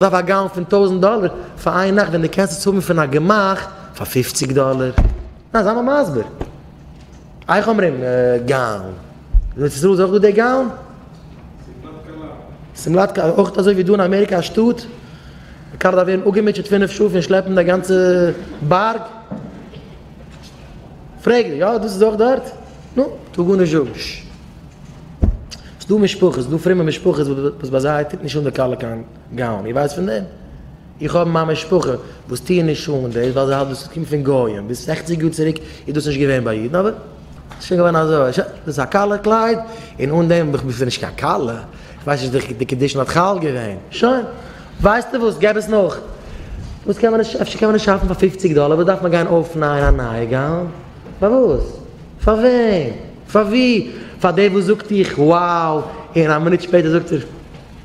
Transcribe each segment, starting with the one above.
דארף א גאון פון טויזענט דאלער פאר איין נאכט ווען די קענסט עס האבן פון א גמח פאר פופציג דאלער? ניין זיי מיר מסביר. איך אומרים גאון. אין ארץ ישראל איז אויך דא די גאון? שמלת כלה. שמלת כלה אויך אזוי ווי דא אין אמעריקא א שטאט? די קאר דארף ווערן אפגעמוטשעט פֿינף שעה פון שלעפן די גאנצע בארג? פרעג די, יא דאס איז אויך דארט? נו, טו גארנישט זאגן. ס'איז דא משפחות, ס'איז דא פרומע משפחות וואס ביי זיי טוט נישט אן די כלה קיין גאון, איר ווייסט פון דעם? איך האב אין מיין משפחה וואס טוען נישט אן דאס ווייל זיי האלטן דאס קומט פון גויים, ביז זעכציג יאר צוריק איז דאס נישט געווען ביי אידן אבער ס'איז שוין געווארן אזוי, שוין, דאס איז א כלה קלייד און אן דעם בין איך נישט קיין כלה, איך ווייס נישט ווי די קידושין האט חל געווען, שוין, ווייסטו וואס געב עס נאך, וואס קען מען נישט, אפשר קען מען נישט שאפן פאר פופציג דאלער, וואס דארף מען גיין אויפנייען א נייע גאון, פארוואס? פארוועם? פאר ווי? פאר דער וואס זאגט איך wow און א מינוט שפעטער זאגט ער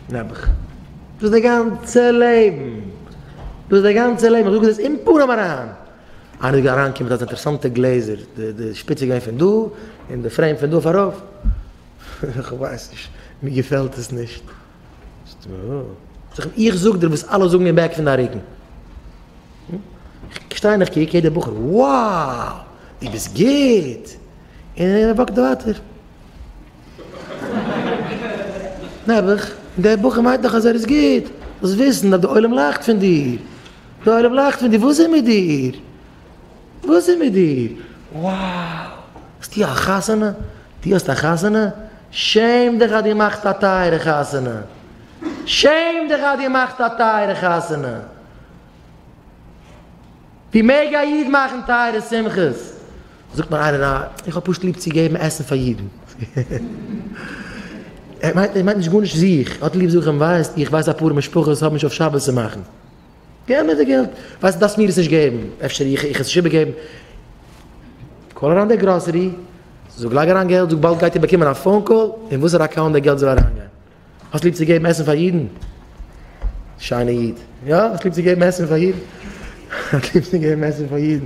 נעבעך. דאס איז די גאנצע לעבן. דאס איז די גאנצע לעבן. איך זאג עס אין פנים אריין. איינער איז אריינגעקומען מיט אזא אינטערעסאנטע גלעזער, די שפיץ איז געווען פון דא און די פרעים פון דא אויף ארויף. איך ווייס נישט, מיר געפעלט עס נישט. זאג אים איך זאג דיר וואס אלע זאגן אין בעק פון דיין רוקן. איך שטיי און איך קוק יעדער בחור wow דו ביסט גוט און ער וואקט ווייטער. נעבעך דער בחור מיינט דאך אז ער איז גוט זאלסט וויסן אז די עולם לאכט פון דיר די עולם לאכט פון דיר וואס איז מיט דיר. וואס איז מיט דיר? wow! האסטו א חתונה? דו האסט א חתונה? שעם דיך אז דו מאכסט א טייערע חתונה! שעם דיך אז דו מאכסט א טייערע חתונה! ווי מעג א איד מאכן טייערע שמחות? זאגט מיר איינער, אה, איך האב פשוט ליב צו געבן עסן פאר אידן. ער מיינט נישט גארנישט זיך, ער האט ליב זאכן, ווייסט, איך ווייס אפאר משפחות האבן נישט אויף שבת צו מאכן. געב מיר די געלט, ווייסט דארפסט מיר עס נישט געבן, אפשר איך איך עס נישט איבערגעבן, קאל אריין די גראסערי, זאג לייג אריין געלט, זאג באלד גייט איר באקומען א פאון קאל אין וואסערע אקאונט די געלט זאל אריינגיין, האסט ליב צו געבן עסן פאר אידן? שיינע איד, יא האסט ליב צו געבן עסן פאר אידן? האסט ליב צו געבן עסן פאר אידן?